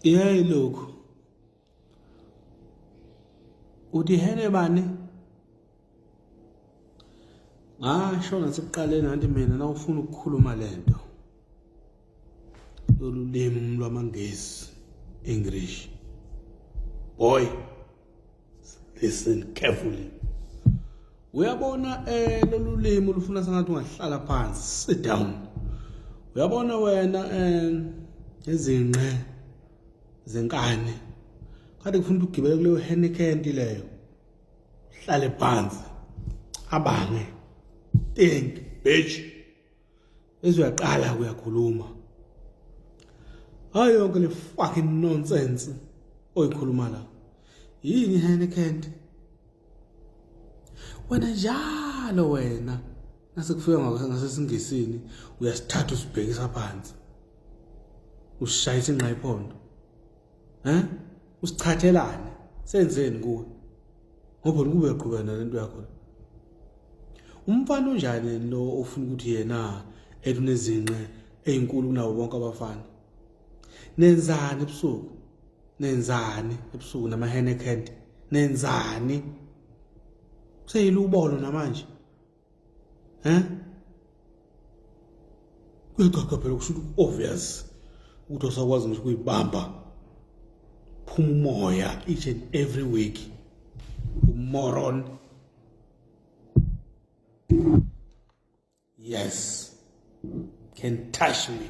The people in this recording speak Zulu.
iyayi lokhu udihele bani ngasho ngasekuqaleni anti mina nawufuna ukukhuluma lento lolu limi lwamangesi english boy listen carefully uyabona eh lolu limi ulufuna sengathi ungahlala phansi sit down uyabona wena eh izinqe zenkani kade ngifuna ukugibela kuleyo henekenti leyo hlale phansi abange think bitch ezuyaqala kuyakhuluma hayi yonke le fucking nonsense oyikhuluma la yini Heineken wena njalo wena nasekufika ngasesingisini uyasithatha usibhekisa phansi ushayisa ingqa iphondo Eh? Usichathelane. Senzeni kuwe? Ngoba ukube uqhubana lento yakho. Umfana unjani lo ofuna ukuthi yena elunezinqe ezinkulu kunawo bonke abafana? Nenzani ebusuku? Nenzani ebusuku nama Henneken? Nenzani? Seyilubolo namanje. Eh? Kuyacaca phela kusho ukuthi obvious ukuthi osakwazi ngisho kuyibamba phuma umoya each and every week umoron yes can touch me